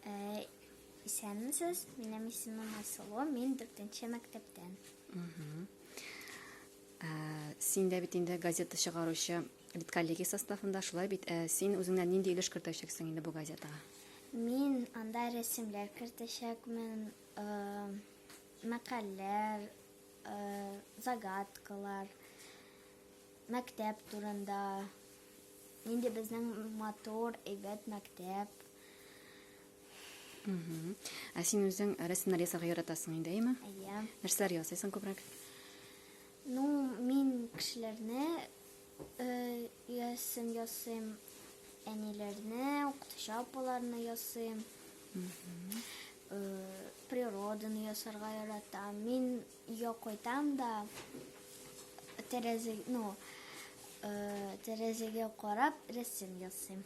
Ә, исәнмесез, минем исемем Айсылу, мин дүртенче мәктәптән. Ә, син дә бит инде газета чыгаручы редколлегия составында, шулай бит. Ә, син үзеңнән нинди өлеш кертәчәксең инде бу газетага? Мин анда рәсемләр кертәчәкмен, э, мәкальләр, э, загадкалар, мәктәп турында, Инде безнең матур, әйбәт мәктәп. Ә син үзең рәсемнәр ясарга яратасың инде, әйеме? Әйе. Нәрсәләр ясыйсың күбрәк? Ну, мин кешеләрне э, ясым ясыйм, әниләрне, укытучы апаларны ясыйм. Э, природаны ясарга яратам. Мин Йо кайтам да тәрәзә, ну, э, тәрәзәгә карап рәсем ясыйм.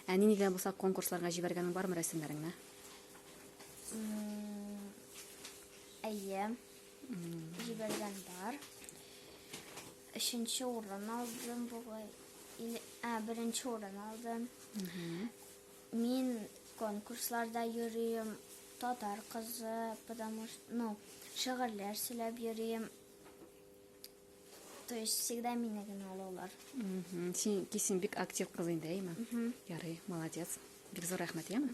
Ә нинегә булса конкурсларга җибәргәнең бармы рәсемнәреңне? Әйе. Җибәргән бар. Өченче урын алдым бугай. Или- Ә, беренче урын алдым. Мин конкурсларда йөрим, татар кызы, потому что, ну, шигырьләр сөйләп йөрим. То есть всегда мине генә алалар. Син, син бик актив кыз инде, әйме? Ярый, молодец. Бик зур рәхмәт, яме?